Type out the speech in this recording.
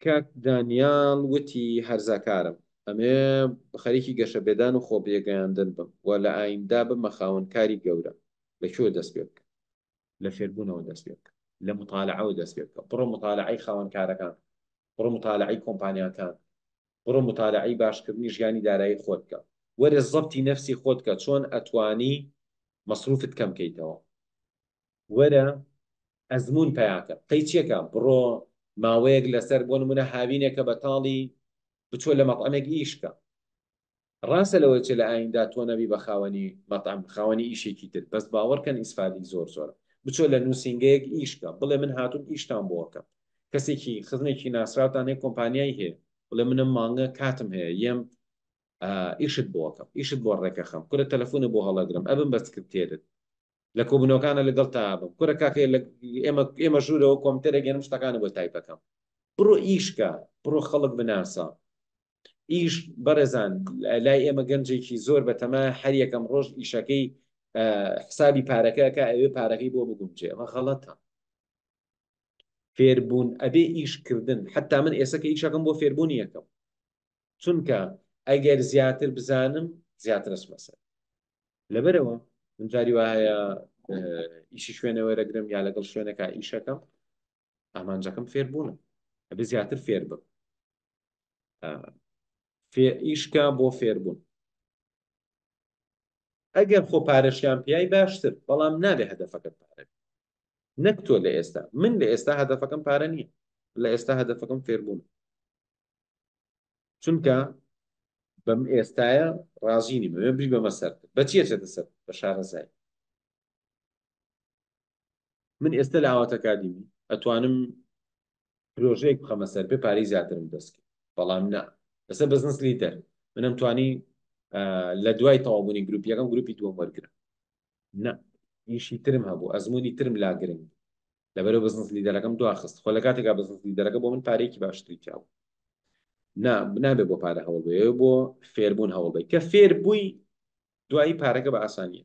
کاک دانیال وتی هەرزەکارم ئەمێ خەریکی گەشە بێدان و خۆ بێگەیاندن بم و لە ئایندە ببمە خاوەن کاری گەورە، لە کوێ دەست پێ بکەم؟ لە فێربوونەوە دەست پێ بکە، لە متالەعەوە دەست پێ بکە، بڕۆ متالەعەی خاوەن کارەکان بکە، بڕۆ متالەعەی کۆمپانیاکان بکە، بڕۆ متالەعەی باشکردنی ژیانی دارایی خۆت بکە، وەرە زەبتی نەفسی خۆت بکە چۆن ئەتوانی مەسروفت کەم کەیتەوە. وەرە ئەزموون پەیاکە. قەیچیەکە بڕۆ ماوەیەک لەسەر بۆ نموونە هاوینێکە بەتاڵی بچۆ لە مەتعەمێک ئیشکە. ڕاستە لەوەی چ لە ئایندە تۆ نەبی بە خاوەنی مەتعەم خاوەنی ئیشێکی تر بەس باوەڕکەن ئیسفادەی زۆر زۆرە. بچۆ لە نووسینگەیەک ئیشکە بڵێ من هاتووم ئیشتان بۆ ئەکەم. کەسێکی خزمێکی ناسراوتان هەیە کۆمپانیای هەیە بڵێ منم مانگە کاتم هەیە یەم ئیشت بۆ ئەکەم ئیشت بۆ ڕێکەخەم کورە تەلەفونت بۆ هەڵەگرم ئەبم بە سکرتێرت لە کۆبونەوەکانا لەگەڵ تاا بم کورە کاکە لە ئێمە ئێمە ژوورەوە کۆمتەرێک گەنم شتەکانە بۆ تای بەکەم بڕۆ ئیشکە بڕۆ خەڵک بناسە ئیش بەڕێزان لای ئێمە گەنجێکی زۆر بەتەما هەر یەکەم ڕۆژ ئیشەکەی حسابی پارەکەکە ئەوێ پارەکەی بۆ بگومجێ ئەمە غەڵەتە فێربوون ئەبێ ئیشکردن حتا من ئێسەکە ئیشەکەم بۆ فێربوونی یەکەم چونکە ئەگەر زیاتر بزانم زیاتر ئەچمە سەر لەبەرەوە من جاری وایە ئیشی شوێنەوە دەگرم یا لەگەڵ شوێنەکە ئیشەکەم ئامانجەکەم فێربوونم ئەبێ زیاتر فێر بم ئیشکە بۆ فێربوون ئەگەر خۆ پارەشیان پیای باشتر بەڵام نابێ هەدەفەکەت پارە نەک تۆ لە ئێستا من لە ئێستا هەدەفەکەم پارە نییە لە ئێستا هەدەفەکەم فێربوون چونکە بەم ئێستایە ڕازینی بەێ بری بەمە سەر بە چیە چێتە سەر بە شارەزای من ئێستا لە ئاواتەکادیمی ئەتوانم پرۆژەیەک بخەمە سەر بێ پارەی زیاترم دەست بەڵام نا لەسەر بزنس لیدەر منم توانی لە دوای تەوابوونی گروپیەکەم گروپی دووەم وەرگرم نا ئیشی ترم هەبوو ئەزمموی ترم لا گرنگ لەبەرو بزنس لیدەرەکەم دواخست خۆ لە کاتێکا بزنس لیدەرەکە بۆ من پارێکی باشتری تیاو نا بنابێ بۆ پارە هەوڵ بێ بۆ فێربوون هەوڵ بێ کە فێر بووی دوایی پارەکە بە ئاسانیە